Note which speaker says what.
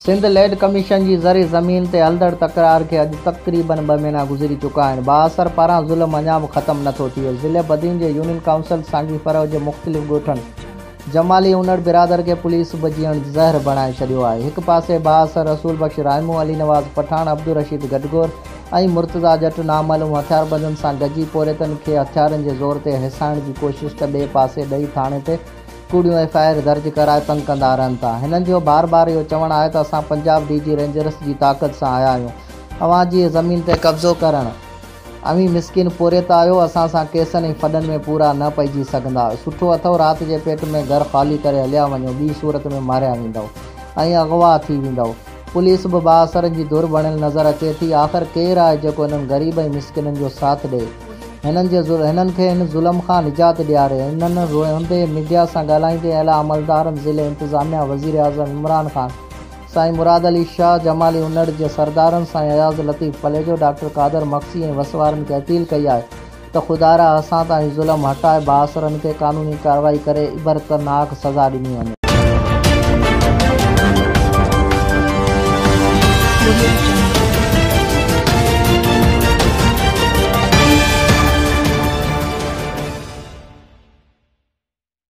Speaker 1: سنڌ ليڊ ڪميشن جي زرعي زمين تي هلندڙ تڪرار کي اڄ تقريبن ٻه مهينا گذري چڪا آهن، بااثر پاران ظلم اڃا به ختم نٿو ٿئي، ضلعي بدين جي يونين ڪائونسل سانگي فرح جي مختلف ڳوٺن، جمالي اونڙ برادر کي پوليس به جيئڻ زهر بڻائي ڇڏيو آهي. هڪ پاسي بااثر رسول بخش رائمو، علي نواز پٺاڻ، عبدالرشيد گڊگور ۽ مرتضيٰ ڄٽ نامعلوم هٿياربندن سان گجي پورهيتن کي هٿيارن جي زور تي هيسائڻ جي ڪوشش ته ٻئي پاسي ڏهي ٿاڻي تي ڪوڙيون ايف آء آر درج ڪرائي تنگ ڪندا رهن ٿا. هنن جو بار بار اهو چوڻ آهي ته اسان پنجاب ڊي جي رينجرس جي طاقت سان آيا آهيون. اوهان جي زمين تي قبضو ڪرڻ. اوهين مسڪين پورهيت آهيو، اسان سان ڪيسن ۽ ڦڏن ۾ پورا نه پئجي سگهندا. سٺو اٿئو رات جي پيٽ ۾ گهر خالي ڪري هليا وڃو، ٻي صورت ۾ ماريا ويندئو ۽ اغوا ٿي ويندئو. پوليس به بااثرن جي ڌر بڻيل نظر اچي ٿي. آخر ڪير آهي جيڪو هنن غريب ۽ مسڪينن جو ساٿ ڏئي. هنن جي هنن کي هن ظلم کان نجات ڏياري. انهن روئندي ميڊيا سان ڳالهائيندي اعليٰ عملدارن، ضلعي انتظاميا، وزيراعظم عمران خان، سائين مراد علي شاهه، جمالي انڙ جي سردارن سائين اياز لطيف پليجو، ڊاڪٽر قادر مگسي ۽ وس وارن کي اپيل ڪئي آهي ته خدارا اسان تان هي ظلم هٽائي بااثرن کي قانوني ڪارروائي ڪري عبرتناڪ سزا ڏني وڃي.